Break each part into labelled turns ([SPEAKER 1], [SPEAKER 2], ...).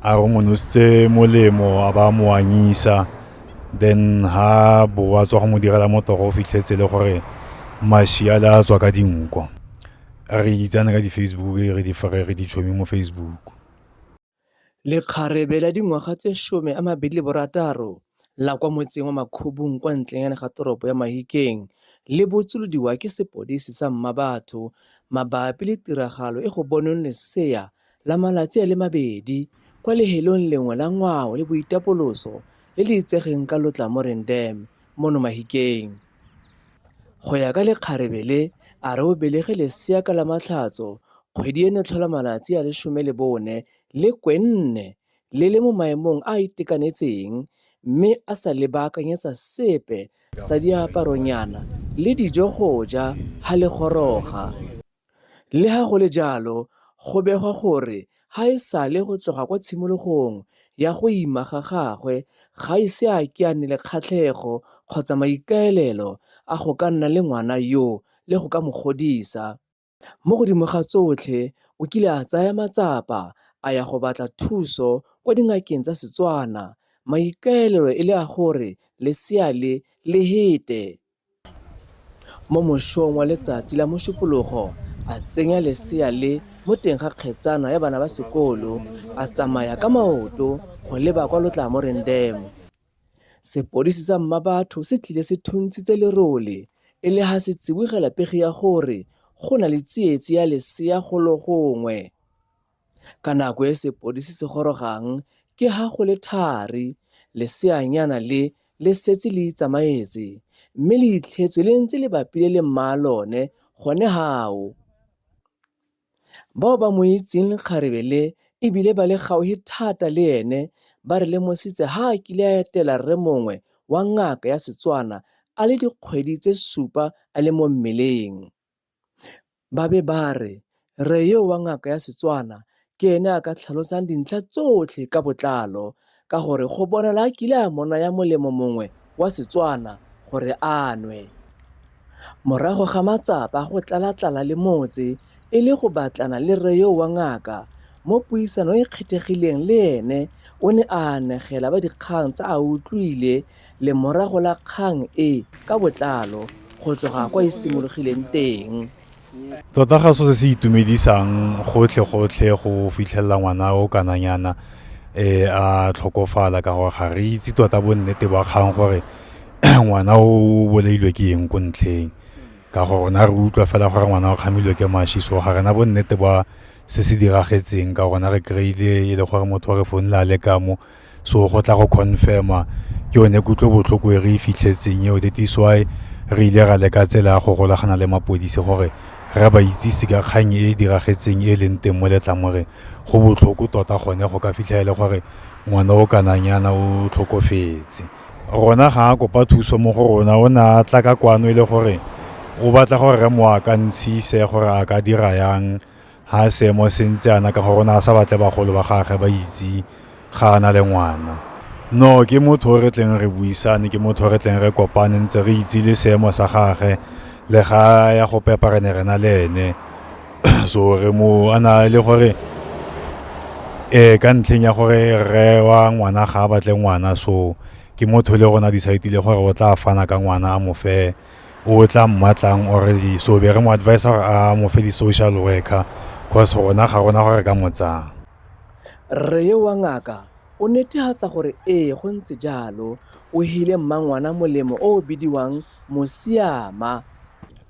[SPEAKER 1] a re o mo nositse molemo a ba mo anyisa then ha bo wa tswa go mo direla motogo o fitlhetse le gore mashi a le a tswa ka dinko re itsane ka di-facebook re di fere re di tšhomi mo facebook lekgarebe la dingwaga tse some a mabedi le borataro la kwa motseng wa Makhubung kwa ntlenyana ga toropo ya Mahikeng le botsolodiwa ke sepodisi sa Mmabatho mabapi le tiragalo e go bonweng lesea la malatsi a le mabedi kwa lehelong lengwe la ngwao le boitapoloso le le itsegeng ka Lotlamoreng Dam mono Mahikeng. Go ya ka lekgarebe le, a re o belege lesea ka Lamatlhatso kgwedi eno tlhola malatsi a le some le bone le kwenne le le mo maemong a a itekanetseng mme a sa le baakanyetsa sepe sa diaparonyana le dijo go ja ha le goroga. Le ha go le jalo, go begwa gore ga e sale go tloga kwa tshimologong ya go ima ga gagwe ga ise a ke a nne le kgatlhego kgotsa maikaelelo a go ka nna le ngwana yo le go ka mo godisa. Mo godimo ga tsotlhe, o kile a tsaya matsapa a ya go batla thuso kwa dingakeng tsa Setswana, maikaelelo e le a gore lesea le le hete. Mo mosong wa letsatsi la Mošupologo, a tsenya lesea le mo teng ga kgetsana ya bana ba sekolo, a tsamaya ka maoto go leba kwa Lotlamoreng Dam. Sepodisi sa Mmabatho se tlile se thuntshitse lerole e le ha se tsibogela pegi ya gore go na le tsietsi ya lesea golo gongwe. Ka nako e sepodisi se gorogang ke ha go le thari leseanyana le le setse le itsamaetse mme le itlhetswe le ntse le bapile le mmaa lone gone hao. Bao ba mo itseng kgarebe le e bile ba le gaufi thata le ene ba re lemositse ha a kile a etela rre mongwe wa ngaka ya Setswana a le dikgwedi tse supa a le mo mmeleng. Ba be ba re rre yo wa ngaka ya Setswana ke ene a ka tlhalosang dintlha tsotlhe ka botlalo Ka gore go bonala a kile a mo naya molemo mongwe wa Setswana gore a nwe. Morago ga matsapa go tlalatlala le motse e le go batlana le rre yoo wa ngaka, mo puisano e kgethegileng le ene o ne a anegela ba dikgang tse a utlwile lemorago la kgang e ka botlalo go tloga kwa e simologileng teng. tota ga so se se itumedisang gotlhe-gotlhe go fitlhelela ngwana o kananyana um a tlhokofala ka gore ga re itse tota bonnete ba kgang gore ngwana o bolailwe ke eng ko ntlheng ka gore rona re utlwa fela gore ngwana o kgamilwe ke mashi so ga rena bonnete ba se se diragetseng ka rona re kry-ile e le gore motho o re founela a le kamo so go tla go confirma ke yone kutlobotlhoko e re e fitlhetseng eo that is why re ile ra leka tsela ya go golagana le mapodisi gore re ba itsise ka kgang e e diragetseng e leng teng mo letlamoreng go botlhoko tota gone go ka fitlha e le gore ngwana o kananyana o tlhokofetse rona ga a kopa thuso mo go rona o ne a tla ka kwano e le gore o batla gore re mo akantshise gore a ka dira yang Ga a seemo se ntse ana ka gore o ne a sa batle bagolo ba gage ba itse ga a na le ngwana. No ke motho o re tleng re buisane, ke motho o re tleng re kopane ntse re itse le seemo sa gage le ga ya go pepa re ne re na le ene. So re mo a na le gore um ka ntlheng ya gore rre wa ngwana ga a batle ngwana so ke motho le rona decide-ile gore o tla fana ka ngwana a mo fe. o tla mmatlang or di so be re mo advise gore a mo fe di social worker cause rona ga rona gore ka mo tsaya rre yo wa ngaka o netehatsa gore ee go ntse jalo o hile mmangwana molemo o o bidiwang mosiama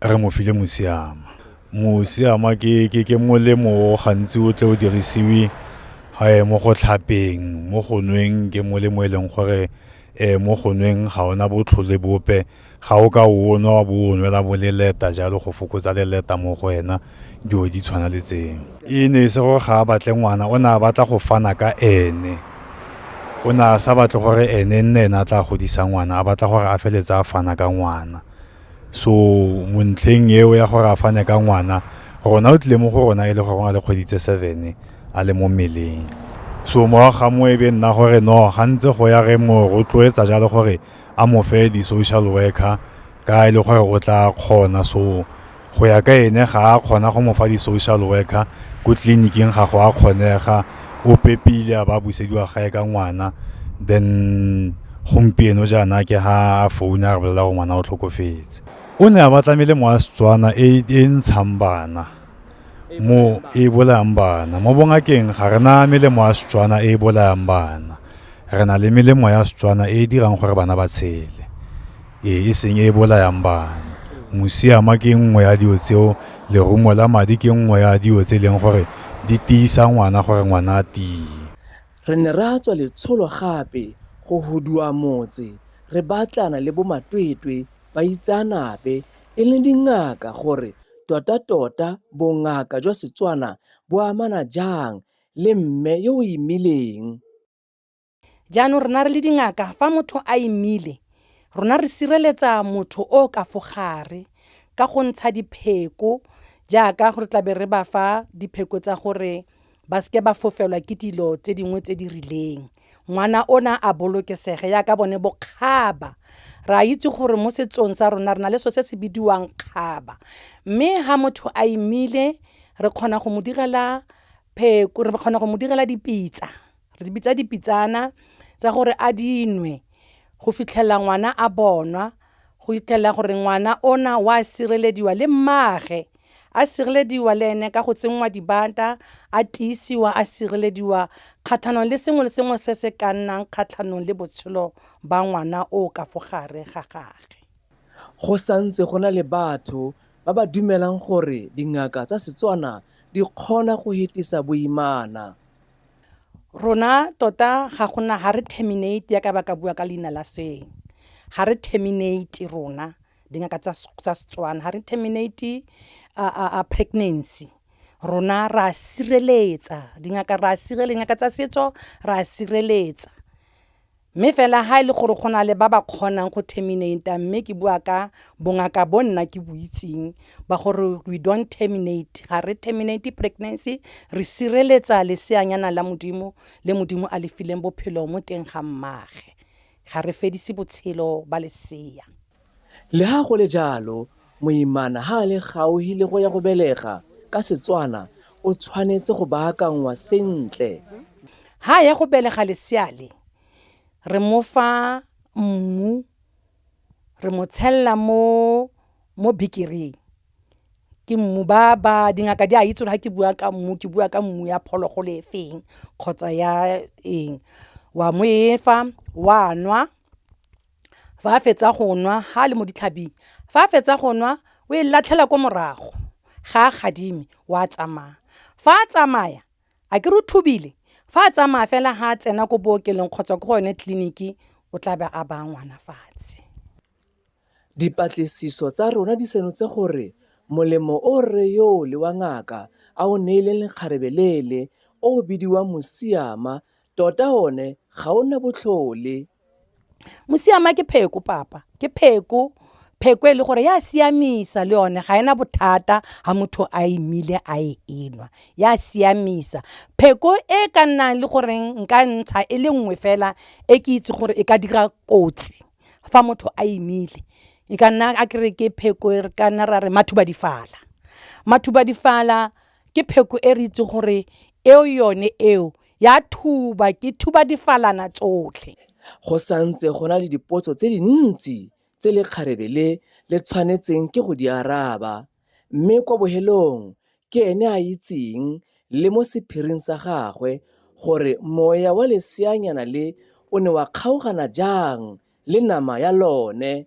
[SPEAKER 1] re mo file mosiama mosiama ke ke ke molemo o gantsi o tle o dirisiwe ga mo go tlhapeng mo go nweng ke molemo e leng gore um mo go nweng ga ona botlhole bope ga o ka o nwa wa bo o nwela bo leleta jalo go fokotsa leleta mo go wena dilo di tshwana le tseng e ne e se gore ga a batle ngwana o ne a batla go fana ka ene o ne a sa batle gore ene nne ene a tla godisa ngwana a batla gore a feletse a fana ka ngwana so mo ntlheng eo ya gore a fane ka ngwana rona o tlile mo go rona e le gore go na le kgwedi tse seven a le mo mmeleng so morago ga mo e be nna gore no ga ntse go ya re mo rotloetsa jalo gore a mo fe di-social worker ka e le gore o tla kgona so go ya ka ene ga a kgona go mo fa di-social worker ko tleliniking ga go a kgonega o pepile a ba busediwa gae ka ngwana then gompieno jaana ke ha a founa a re bolela gore ngwana o tlhokofetse o ne a ba tlamele mo a setswana e, e ntshang bana mo e bolayang bana mo bongakeng ga re na melemo ya setswana e e bolayang bana re na le melemo ya setswana e e dirang gore bana ba tshele ee, e seng e bolayang bana. Musiama ke nngwe ya dilo tseo, lerumo la madi ke nngwe ya dilo tse e leng gore di tiisa ngwana gore ngwana a tie. Re ne ra tswa letsholo gape go huduwa motse re batlana le bomatwetwe, baitseanape e leng dingaka gore totatota bongaka jwa Setswana bo amana jang le mme yo o imileng. Jaanong rona re le dingaka, fa motho a imile, rona re sireletsa motho o ka fogare ka go ntsha dipheko jaaka gore tlabe re ba fa dipheko tsa gore ba seke ba fofelwa ke dilo tse dingwe tse di rileng ngwana ona a bolokesege yaka bone bokgaba re a itse gore mo setsong sa rona re na le so se se bidiwang kgaba mme ha motho a imile re kgona go mo direla pheko re kgona go mo direla dipitsa re di bitsa dipitsana tsa gore a dinwe go fitlhelela ngwana a bonwa go fitlhelela gore ngwana ona wa sirelediwa le mmaage a sirelediwa le ene ka go tsenngwa dibata a tiisiwa a sirelediwa kgatlhanong le sengwe le sengwe se se ka nnang kgatlhanong le botshelo ba ngwana o ka fo gare ga gage go santse go na le batho ba ba dumelang gore dingaka tsa Setswana di kgona go hetisa boimana. Rona tota ga gona ha re terminate ya ka ba ka bua ka leina la sweng ha re terminate rona dingaka tsa tsa Setswana ha re terminate a a a pregnancy rona ra sireletsa dingaka ra sireletsa dingaka tsa setso ra sireletsa Mme fela ha e le gore go na le ba ba kgonang go terminate mme ke bua ka bongaka bo nna ke bo itseng ba gore we don't terminate ga re terminate pregnancy re sireletsa leseanyana la modimo le modimo a le fileng bophelo mo teng ga mmaage ga re fedise botshelo ba lesea Leha go le jalo, moimana ha a le gauhi le go ya go belega, ka Setswana, o tshwanetse go baakanngwa sentle. Ha a ya go belega lesea le, re mo fa mmu, re mo tshelela mo mo bikiring. Ke mmu ba ba, dingaka di a itse gore ha ke bua ka mmu, ke bua ka mmu ya phologolo e feng kgotsa ya eng. Wa mo efa, wa nwa. fa a fetsa go nwa ga a le mo ditlhabing fa a fetsa go nwa o e latlhela ko morago ga a gadime wa tsamaya fa a tsamaya a ke re o thubile fa a tsamaya fela ga a tsena ko bookelong kgotsa ko go yone tleliniki o tla be a baya ngwana fatshe dipatlisiso tsa rona di senotse gore molemo o rre yoo le wa ngaka a o neileng lekgarebe lele o o bidiwang mosiama tota one ga o na botlhole Mosiama ke pheko papa, ke pheko. Pheko e le gore ya siamisa le yone ga ena bothata ha motho a imile a e enwa ya siamisa. Pheko e ka nnang le goreng nka ntsha e le nngwe fela e ke itse gore e ka dira kotsi fa motho a imile e ka nna a kere ke pheko e re ka nna ra re mathubadifala. Mathubadifala ke pheko e re itse gore eo yone eo. Ya thuba, ke thuba difalana tsotlhe. Go santse go na le dipotso tse dintsi tse lekgarebe le le tshwanetseng ke go di araba, mme kwa bohelong ke ene a itseng le mo sephiring sa gagwe gore moya wa leseanyana le o ne wa kgaogana jang le nama ya lone.